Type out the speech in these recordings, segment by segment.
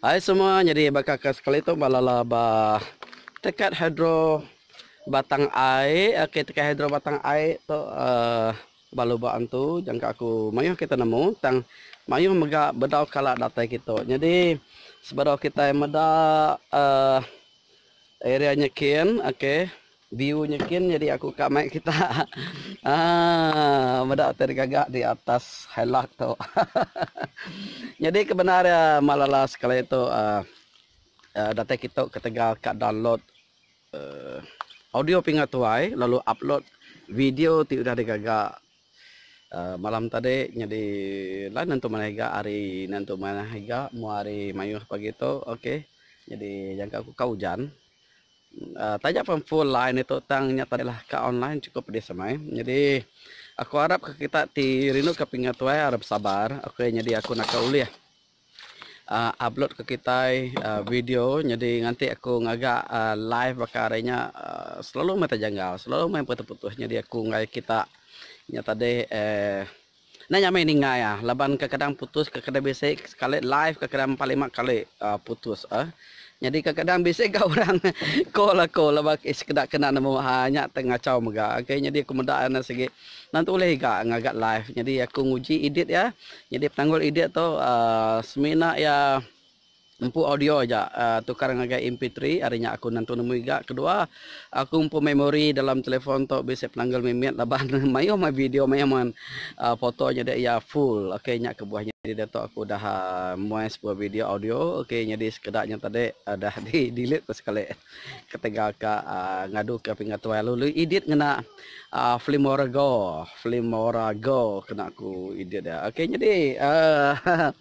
Ai semua nyadi baka ke sekali tu ba lala ba tekat hidro batang ai ke tekat hidro batang ai tu ba lubok antu jangka aku mayuh kita nemu tang mayuh mega bedau kala datai kitu nyadi sebedau kitai meda area nyikin ok. View nya kin nyadi aku ka mai kita aaa meda utai digaga di atas hillock tu nyadi ke bendar iya malala sekali tu aaa datai kitu ketegal ka download aaa audio pinga tuai lalu upload video ti udah digaga aaa malam tadi nyadi line nentu manah iga hari nentu manah iga mu hari maioh pagi tu ok nyadi nyangka ku ka ujan Taja pun full line ditu tang nya tadi lah ka online chukup pedis amai. Nyadi aku arap ka kita ti rindu ka pinga tuai aro besabar okay nyadi aku naka ulih uhh upload ka kitai uhh video nyadi nganti aku ngaga uhh live baka ari nya uhh selalu meh tejanggal selalu meh putus putus nyadi aku enggau kita nya tadi uhh. Enda nyamai ninggai ah laban kekadang putus kekeda bisi sekali live kekeda empat lima kali ah putus ah nyadi kekadang bisi ga orang call aku laban ke sekeda kena nemu ha nya te ngachau mega okay nyadi aku meda enda sigi enda tentu ulih iga ngaga live nyadi aku nguji edit iya nyadi penanggul edit tu ah semina iya Empu audio aja tukar ngagai MP3 ari nya aku nentu nemu iga kedua aku empu memori dalam telefon tu bisi penanggul mimit laban mayuh meh video mayuh meh foto nyadi iya full ok nya kebuah nyadi diatu aku udah muai sebuah video audio ok nyadi sekeda nya tadi udah di delete ku sekali ketegal ka ngadu ka pengatuai lalu edit ngena filmora go filmora go kena ku edit dia ok nyadi aaa.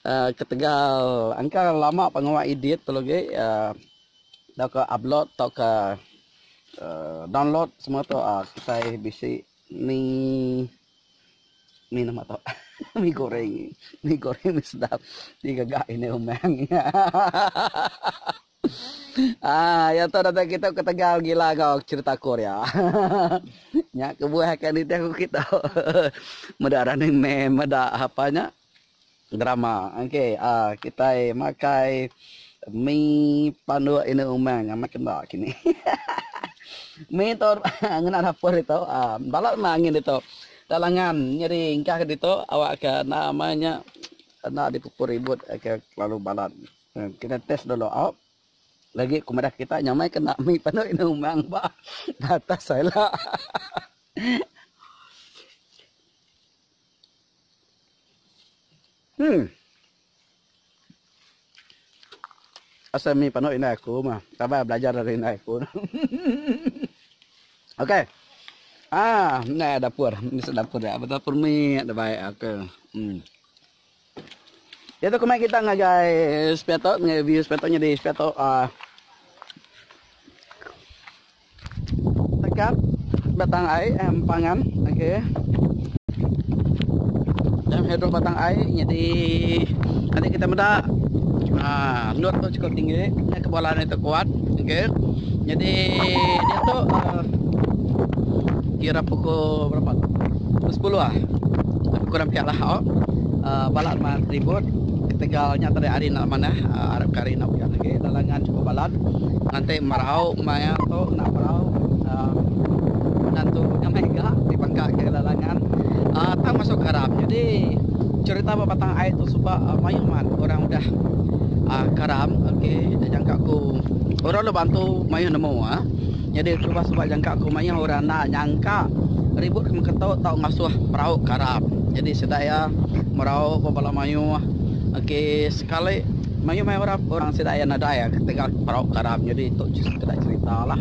Ketegal engka lama pengawa edit tu lagi tauka upload tauka download semua tu kitai bisi mi mi nama tu mi goreng mi goreng mi sedap ti gaga indai umang ahahaha iya tu datai kitai ketegal gila enggau cherita aku ria nya kebuah aka nitih aku kitu meda running man meda apa nya. Drama ok a kitai makai mi panduk inu umang amat kena kini hahaha mi tu ngena dapur ditu a bala enda angin ditu enda langan nyadi engkah ke ditu awak ke enda ama nya enda dipupur ribut ke kelalu balat kitai test dulu au lagi ku madah kita nya mai kena mi panduk inu umang bah atas ila hahaha. Hmm. Asal mi panu indai aku mah. Sabar belajar ari indai aku. Okey. Ah, ni dapur. Ni dapur dia. Dapur mi da bai. Okey. Hmm. Diatu kemai kita ngagai sepia tu ngagai view sepia tu nyadi sepia tu a dekat batang ai eh, empangan okey. Dan hidup batang ai nyadi nanti kita meda ha lut tu cukup tinggi eh, kebolan itu kuat okey. Jadi dia tu uh, kira pukul berapa? Pukul 10 ah. Lebih kurang pia lah au. Balat mat ribut ketegal nya tadi ari enda manah arap ke ari enda ujan agi lalangan chukup balat nganti merau maya tu enda merau menantu nyamai ga ti baka ke lalangan tang masuk karam jadi cerita ba batang ai tu suba mayuh mat orang udah karam ok jangka ku orang dulu bantu mayuh nemu. Nyadi suba suba jangka ku mayuh orang enda nyangka ribut ke mengketu tau ngasuh perau ke arap. Nyadi sida iya merau ba bala mayuh ke sekali mayuh maya orang orang sida iya nadai ketegal perau ke arap. Nyadi tu sekeda cerita lah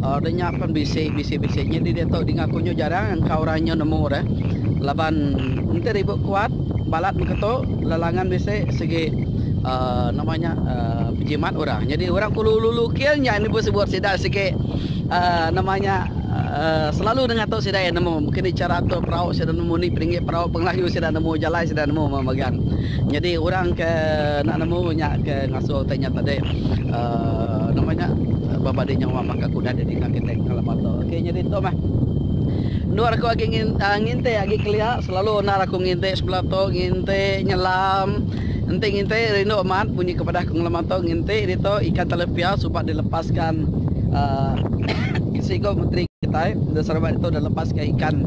aur de nya pen bisi bisi bisi nyadi diatu dinga ku nyu jarang engka orang nyu nemu de laban enti ribut kuat balat mengketu lalangan bisi sigi aur nama nya aur pejimat. Orang nyadi orang ke ulu-ulu king nya enda bisi buat sida sigi nama nya selalu nengah tu sida iya nemu mungkin ni chara atur perau sida nemu ni peninggi perau pengelayu sida nemu jalai sida nemu meh megang nyadi orang ke enda nemu nya ke ngasuh te nya tadi nama nya baba di nyawa baka ke udah didinga kitai kala batu ok nyadi tu meh endor aku agi ngintik agi kelia selalu endar aku ngintik sebela tu ngintik nyelam. Enti nginti rindu amat munyi ke pedah pengelama tu nginti ditu ikan talapia suba dilepaska seiku menteri kitai da Sarawak ditu da lepaska ikan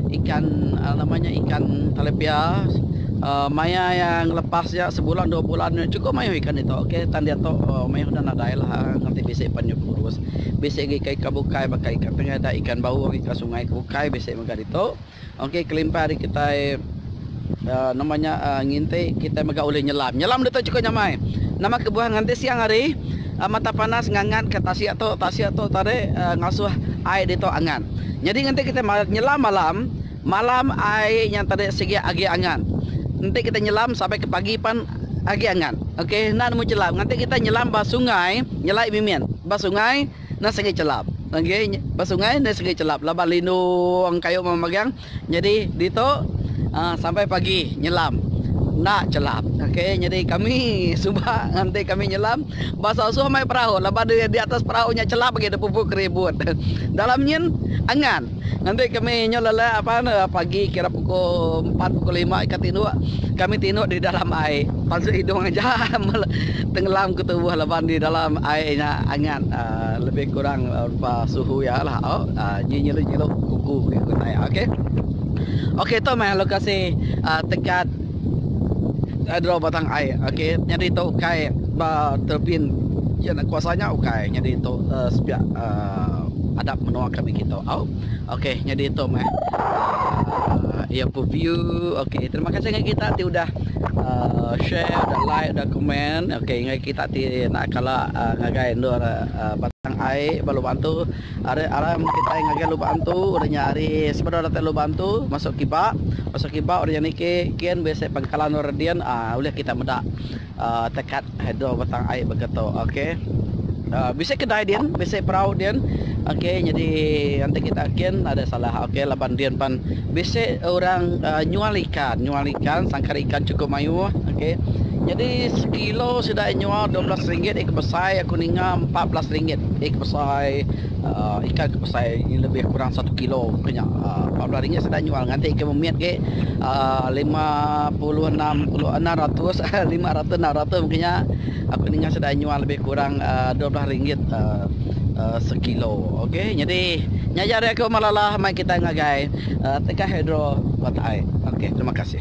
ikan nama nya ikan talapia maya iya ngelepas iya sebulan dua bulan chukup mayuh ikan ditu ok tang diatu mayuh enda nadai lah enti bisi pan inya kurus bisi lagi ikan bukai baka ikan tengadah ikan baung ikan sungai ke bukai bisi mega ditu. Ok kelimpah ari kitai Uh, nama nya uh, nginti kita mega ulih nyelam. Nyelam detok cukup nyamai. Nama kebuah nganti siang hari uh, mata panas ngangat ke tasik tu, tasik tu tarik uh, ngasuh ai detok angat. Jadi nganti kita nyelam malam, malam ai yang tarik sigi agi angat. Nanti kita nyelam sampai ke pagi pan agi angat. Okey, nan mu nyelam. Nganti kita nyelam ba sungai, nyelai mimin. Ba sungai, Enda segi chelap agi ba sungai enda segi chelap laban lindu wang kayu mama magang nyadi ditu sampai pagi nyelam enda chelap ok nyadi kami suba nganti kami nyelam ba soh-soh mai perahu laban di atas perahu nya chelap agi da pupu keribut dalam nyin angan. Nganti kami nyau lelak apan pagi kira pukul empat pukul lima ika tinduk kami tinduk di dalam ai pansut hidung aja tenggelam ke tubuh laban di dalam ai nya angat lebih kurang rupa suhu ya lah oh nyi nyilu nyilu kuku ngiku tai ok ok tu meh lokasi tekat Ai draw batang ai okey nyadi tu ukai ba turbin iya nya kuasa nya ukai nyadi tu uh, sepiak uh, adap menua kami kita au okey nyadi tu meh uh, iya pu view okey terima kasih dengan kita ti udah uh, share udah like udah komen okey dengan kita ti nak kala uh, ngagai endur uh, batang ai balu bantu Ari aram kitai ngagai lubang tu udah nya ari sebedau datai lubang tu masuk kiba, masuk kiba udah nya niki kin bisi pangkalan orang din aaa ulih kitai meda aaa takat hidro batang ai baka tu okey. Aaa bisi kedai din bisi perau din okey nyadi enti kitai kin ada salah okey laban din pan. Bisi orang nyual ikan, nyual ikan sangkar ikan chukup mayuh okey. Nyadi sekilo sida iya nyual dua belas ringgit iko besai aku ninga empat belas ringgit iko besai ikan ke besai lebih kurang satu kilo ke nya empat belas ringgit sida nyual nganti ke memit agi lima puluh enam puluh enam ratus lima ratus enam ratus mungkin nya aku ninga sida nyual lebih kurang dua belas ringgit sekilo okey nyadi nya aja ari aku Malar Lalah. Kitai ngagai Tengah Hidro Watak ai. Okey terima kasih.